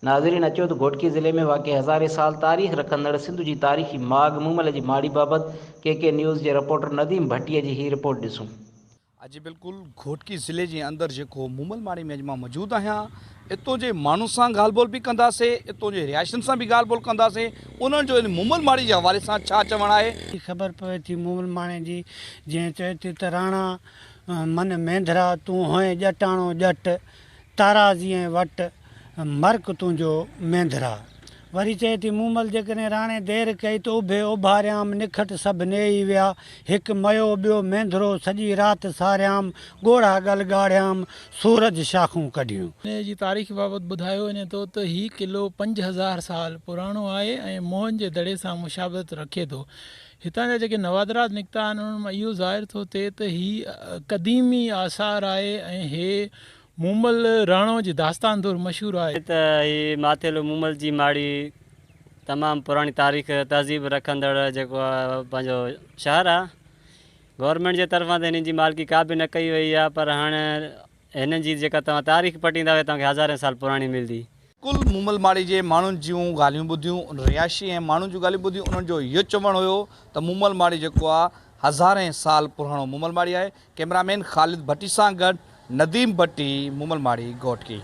ناظرين اچو ته گهوٽڪي ضلعي ۾ واقع هزارين سال تاريخ رکندڙ سنڌ جي تاريخي ماڳ مومل جي ماڙي بابت ڪي ڪي نيوز جي رپورٽر نديم ڀٽي جي هي رپورٽ ڏسون. اڄ بلڪل گهوٽڪي ضلعي جي اندر جيڪو مومل ماڙي ۾ اڄ مان موجود آهيان اتو جي ماڻهن سان ڳالهه ٻولهه به ڪنداسي اتو جي رهائشين سان به ڳالهه ٻولهه ڪنداسي انهن جو ان مومل ماڙي جي حوالي سان ڇا چوڻ آهي ۽ خبر پوي ٿي مومل ماڻي جي جنهن چئي ٿي ته راڻا من مينڌرا تون هئين ڄٽاڻو ڄٽ. تارا جيئن وٽ مرڪ تنهنجو مينڌرا. وري چئي ٿي، مومل جيڪڏهن راڻي دير ڪئي ته اڀي اوڀاريام نکٽ سڀ نيئي ويا، هڪ ميو ٻيو مينڌرو سڄي رات ساريام، ڳوڙها ڳل ڳاڙهيام، سورج شاخون ڪڍيون. انهيء جي تاريخ بابت ٻڌايو وڃي ٿو ته هي قلعو پنج هزار سال پراڻو آهي ۽ موهن جي دڙي سان مشابهت رکي ٿو. هتان جا جيڪي نوادرات نڪتا آهن انهن مان اهو ظاهر ٿو ٿئي ته هي قديمي آثار آهي ۽ هي مومل راڻو جي داستان طور مشهور آهي. ائين ته هي ماٿيلو مومل جي ماڙي تمام پراڻي تاريخ تهذيب رکندڙ جيڪو پنهنجو شهر آهي گورنمينٽ جي طرفان ته هنن جي مالڪي ڪا به نه ڪئي وئي آهي پر هاڻي هنن جي جيڪا توهان تاريخ پٽيندا اهي توهان کي هزارين سال پراڻي ملدي. ڪل مومل ماڙي جي ماڻهن جون ڳالهيون ٻڌيون ان رهائشي ۽ ماڻهن جون ڳالهيون ٻڌيون انهن جو اهيو چوڻ هيو ته مومل ماڙي جيڪو آهي هزارين سال پراڻو مومل ماڙي آهي ڪئميرا مين خالد ڀٽي سان گڏ نديم ڀٽي مومل ماڙي گهوٽڪي.